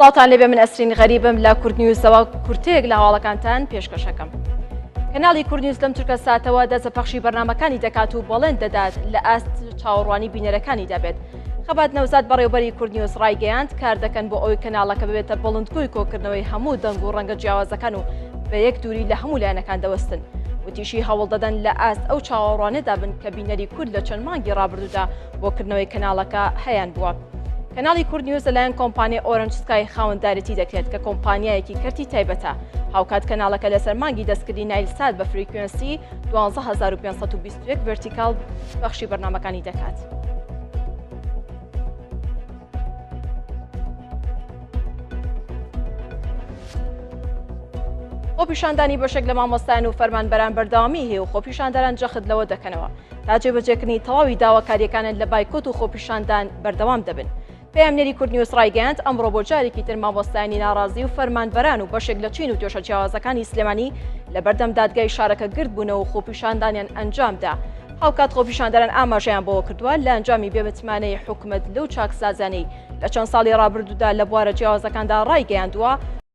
سڵاوتان لێبێ من ئەسرین غەریبم لە کورد نیوزەوە کورتەیەک لە هەواڵەکانتان پێشکەشەکەم. کەناڵی کورد نیوز لەم چرکە ساتەوە دەست بە پەخشی بەرنمەکانی دەکات و بەڵێن دەدات لە ئاست چاوەڕوانی بینەرەکانی دەبێت. خەبات نەوزاد بەڕێوبەری کورد نیوز ڕایگەیاند کار دەکەن بۆ ئەوی کەناڵەکە ببێتە بڵندگوی کۆکردنەوەی هەموو دەنگ و ڕەنگە جیاوازەکان و بە یەک دووری لە هەموو لایەنەکان دەوەستن. وتیشی هەوڵ دەدەن لە ئاست ئەو چاوەڕوانێدا بن کە بینەری کورد لە چەند مانگی ڕابردوودا بۆ کردنەوەی کەناڵەکە هەیان بووە. کەناڵی کورد نیوز لەلایەن کۆمپانیای ئۆرنج سکای خاوەندارێتی دەکرێت کە کۆمپانیایەکی کەرتی تایبەتە هاوکات کەناڵەکە لەسەر مانگی دەستکردی نایل سات بە فریکوێنسی 11521 ڤرتیکال بەخشی بەرنمەکانی دەکات. خۆپیشاندانی بەشێک لە مامۆستایان و فەرمانبەران بەردەوامی هەیە و خۆپیشاندەران جەخت لەوە دەکەنەوە تا جێبەجێکردنی تەواوی داواکاریەکانن لە بایکۆت و خۆپیشاندان بەردەوام دەبن. پەیامنێری کورد نیوز ڕایگەیاند ئەمڕۆ بۆ جارێکی تر مامۆستایانی ناڕازی و فەرمانبەران و بەشێک لە چین و توێشە جیاوازەکانی سلێمانی لە بەردەم دادگای شارەکە گرد بوونەوە و خۆپیشاندانیان ئەنجامدا هاوکات خۆپیشاندەران ئاماژەیان بەوە کردووە لە ئەنجامی بێمتمانەی حکومەت لەو چاکسازانەی لە چەند ساڵی ڕابردوودا لە بوارە جیاوازەکاندا ڕایگەیاندووە